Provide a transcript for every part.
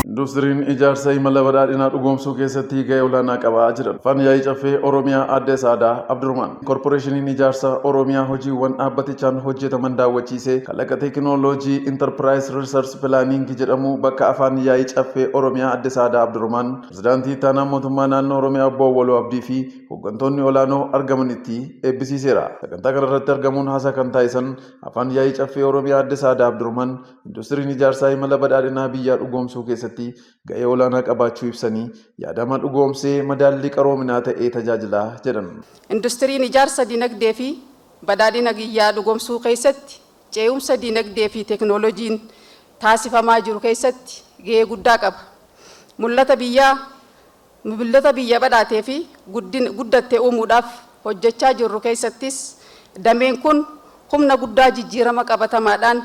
Industiriin ijaarsa imala badhaadhinaa dhugoomsuu keessatti gahee olaanaa qabaa jira. Fan yaa'ii caffee Oromiyaa Aadde Saadaa Abdurrahmaan. Korporeeshiniin Ijaarsa Oromiyaa hojiiwwan dhaabbatichaan hojjetaman daawwachiisee kalaqa teekinooloojii Intarpiraayis Riisars Pilaaniingi jedhamu bakka Afaan Yaa'ii Caffee Oromiyaa Adde Sa'aadaa Abdurahmaan, Pirezidaantii Ittaanaa Mootummaa Naannoo Oromiyaa Obbo Awwaluu Abdii fi hoggantoonni olaanoo argamanitti eebbisiiseera. Sagantaa kanarratti argamuun haasaa kan taasisan Afaan Yaa'ii Caffee Oromiyaa Adde Sa'aadaa Abdurahmaan, Industiriin Ijaarsaa imala badhaadhinaa biyyaa dhugoomsuu keessatti ga'ee olaanaa qabaachuu ibsanii, yaadama dhugoomsee madaallii qaroominaa ta'ee tajaajila jedhan. Industiriin ijaarsa dinagdee fi badhaadhina biyyaa dhugoomsuu keessatti cee'umsa dinagdee fi teeknooloojiin taasifamaa jiru keessatti ga'ee guddaa qaba. Mul'ata biyyaa Bibildoota biyya badhaatee fi guddatte uumuudhaaf hojjechaa jirru keessattis dameen kun humna guddaa jijjiirama qabatamaadhaan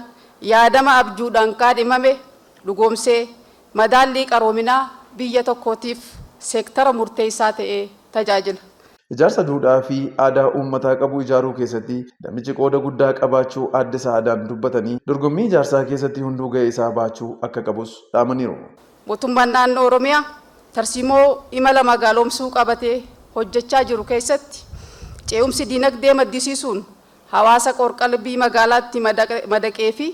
yaadama abjuudhaan kaadhimame dhugoomsee madaallii qaroominaa biyya tokkootiif seektara murteessaa ta'ee tajaajila. Ijaarsa duudhaa fi aadaa uummataa qabu ijaaruu keessatti damichi qooda guddaa qabaachuu Aadde Sa'aadaan dubbatanii, dorgommii ijaarsaa keessatti hunduu ga'ee isaa bahachuu akka qabus dhaamaniiru. Mootummaan Naannoo Oromiyaa tarsiimoo imala magaaloomsuu qabatee hojjechaa jiru keessatti cee'umsi dinagdee maddisiisuun hawaasa qoor-qalbii magaalaatti madaqeefi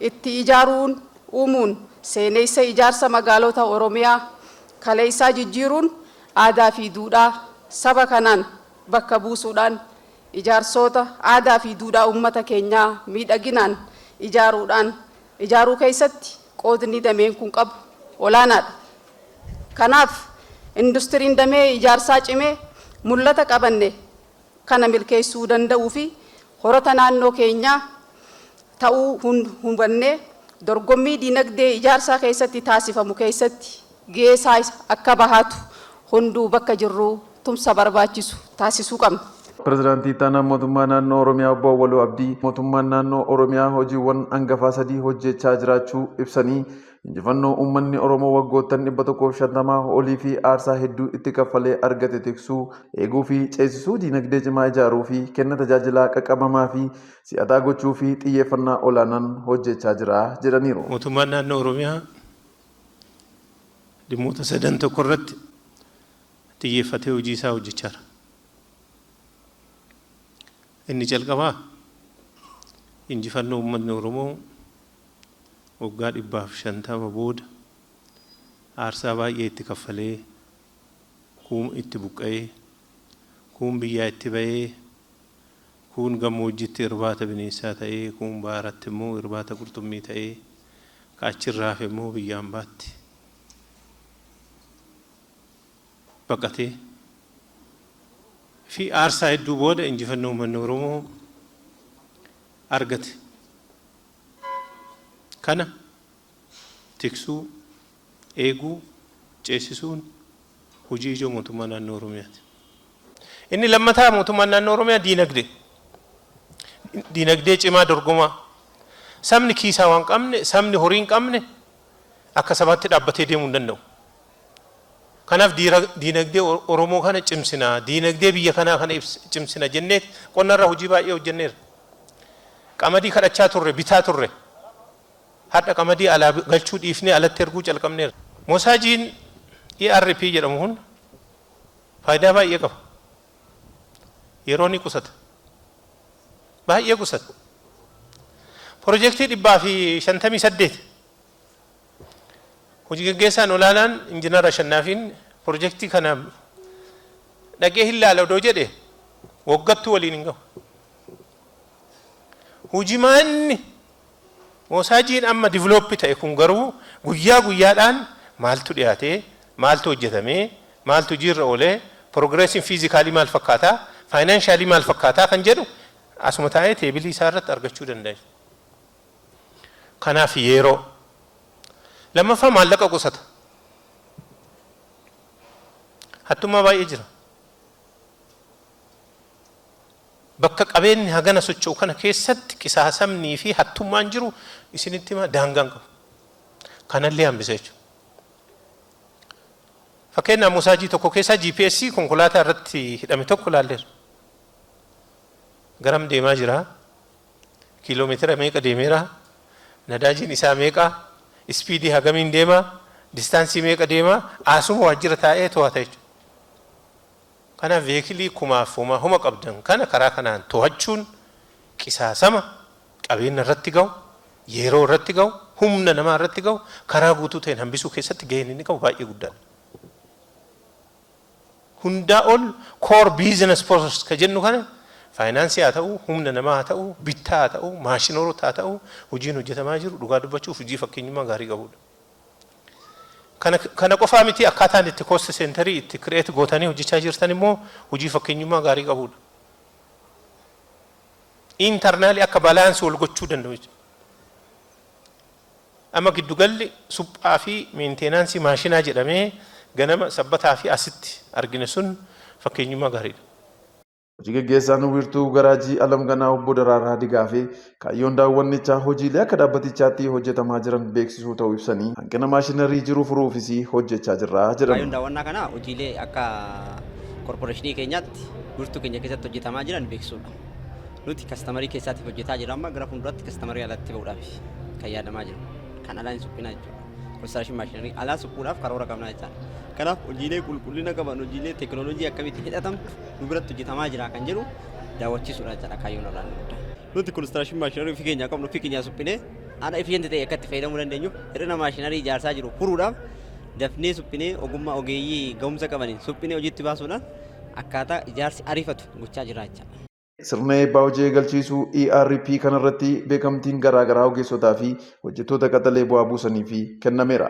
itti ijaaruun uumuun seeneessa ijaarsa magaalota Oromiyaa kaleessaa jijjiiruun aadaafi duudhaa saba kanaan bakka buusuudhaan ijaarsoota aadaafi duudhaa ummata keenyaa miidhaginaan ijaaruudhaan ijaaruu keessatti qoodni dameen kun qabu olaanaadha. Kanaaf, industiriin damee ijaarsaa cimee mul'ata qabanne kana milkeessuu danda'uufi horata naannoo keenyaa ta'uu hubannee dorgommii dinagdee ijaarsaa keessatti taasifamu keessatti geesaa akka bahatu hunduu bakka jirruu tumsa barbaachisu taasisuu qabna. Pirezidaantii Ittaanaan Mootummaa Naannoo Oromiyaa Obbo Awwaluu Abdii, Mootummaan Naannoo Oromiyaa hojiiwwan angafaa sadii hojjeechaa jiraachuu ibsanii, injifannoo uummanni Oromoo waggoottan 150 oliifi aarsaa hedduu itti kaffalee argate tiksuu, eeguufi ceesisuu, diinagdee cimaa ijaaruufi kenna tajaajilaa qaqqabamaafi si'ataa gochuufi xiyyeeffannaa olaanaan hojjeechaa jira jedhaniiru. Mootummaan Naannoo Oromiyaa dhimmoota sadan tokko irratti xiyyeeffatee hojii isaa hojjechaa jira. Inni jalqabaa injifannoo uummanni Oromoo waggaa dhibbaaf shantama booda aarsaa baay'ee itti kaffalee kuun itti buqqa'ee kuun biyyaa itti ba'ee Kuun gammoojjitti irbaata bineensaa ta'ee, kuun baaratti immoo irbaata qurxummii ta'ee, ka achi irraa hafe immoo biyya ambaatti baqatee fi aarsaa hedduu booda injifannoo uummanni Oromoo argate kana tiksuu, eeguu, ceesisuun hojii ijoo Mootummaa Naannoo Oromiyaati. Inni lammataa Mootummaan Naannoo Oromiyaa diinagdee. Diinagdee cimaa dorgomaa. Sabni kiisaa waan qabne, sabni horii hin qabne akka sabaatti dhaabbatee deemuu hin danda'u. Kanaaf diinagdee Oromoo kana cimsina, diinagdee biyya kanaa kana cimsina jennee qonnarra hojii baay'ee hojjenneerra. Qamadii kadhachaa turre, bitaa turre. Har'a qamadii alaa galchuu dhiifnee alatti erguu calqabneerra. Moosaajiin ERP jedhamu kun faayidaa baay'ee qaba. Yeroo ni qusata. Baay'ee qusata. Pirojektii 158 Hojii gaggeessaan olaanaan Injinar Ashannaafiin pirojektii kana dhaqee hin laala odoo jedhe waggattuu waliin hin gahu. Hojimaanni moosaajjiin amma develop ta'e kun garuu guyyaa guyyaadhaan maaltu dhiyaate, maaltu hojjetame, maaltu hojiirra oole, progressin physically maal fakkaata, financially maal fakkaata kan jedhu asuma taa'ee teebilii isaa irratti argachuu danda'e. Kanaaf yeeroo. Lammaffaa maallaqa qusata. Hattummaa baay'ee jira. Bakka qabeenni hagana socho'u kana keessatti qisaasamnii fi hattummaan jiru isinitti hima daangaa hin qabu. Kana illee hambisa jechuudha. Fakkeenyaaf mosaajii tokko keessaa GPS konkolaataa irratti hidhame tokko ilaalleerra. Garam deemaa jira? Kiiloomeetira meeqa deemeera? Nadaajiin isaa meeqa? Ispiidii hagamiin deema? Distaansii meeqa deema? Asuma waajjira taa'ee to'ata jechuudha. Kanaaf veekilii kumaaf homaa homa qabdan kana karaa kanaan tohachuun qisaasama qabeenna irratti gahu, yeeroo irratti gahu, humna namaa irratti gahu karaa guutuu ta'een hambisuu keessatti gaheen inni qabu baay'ee guddaa dha. Hundaa ol core business process ka jennu kana faayinaansii haa ta'uu, humna namaa haa ta'uu, bittaa haa ta'uu, maashinoorota haa ta'uu hojiin hojjetamaa jiru dhugaa dubbachuuf hojii fakkeenyummaa gaarii qabu dha. Kana kana qofaa miti akkaataan itti cost centerii itti create gootanii hojjechaa jirtan immoo hojii fakkeenyummaa gaarii qabuudha. Internally akka balance wal gochuu danda'u jechuudha. Amma giddugalli suphaa fi maintenance maashinaa jedhamee ganama sabbataa fi asitti argine sun fakkeenyummaa gaariidha. Hojii gaggeessaan wiirtuu garaajii Alam Ganaa Obbo Daraaraa Digaafee kaayyoon daawwannichaa hojiilee akka dhaabbatichaatti hojjetamaa jiran beeksisuu ta'uu ibsanii hanqina maashinarii jiru furuufis hojjechaa jirra jedhan. Kaayyoon daawwannaa kanaa hojiilee akka korporeeshinii keenyaatti wiirtuu keenya keessatti hojjetamaa jiran beeksisuudha. Nuti kastamarii keessaatiif hojjetaa jirra amma gara fuulduraatti kastamarii alatti ba'uudhaaf kan yaadamaa jiru. Kan alaa hin suphinaa jechuudha. Konistiraashin maashinarii alaa suphuudhaaf karoora qabnaa jechaadha. Kanaaf hojiilee qulqullina qaban hojiilee teekinooloojii akkamitti hidhatamtu nu biratti hojjetamaa jira kan jedhu daawwachiisuudha jechaadha kaayyoon olaanaa guddaa. Nuti konistiraashin maashinarii ofii keenyaa qabnu ofii keenyaa suphinee haala efficienti ta'e akka itti fayyadamuu dandeenyu hir'ina maashinarii ijaarsaa jiru furuudhaaf dafnee suphinee ogummaa ogeeyyii ga'umsa qabaniin suphinee hojiitti baasuudhaan akkaataa ijaarsi ariifatu gochaa jira jechaadha. Sirna eebbaa hojii eegalchiisuu ERP kanarratti beekamtiin garaagaraa ogeessotaa fi hojjettoota qaxalee bu'aa buusaniifi kennameera.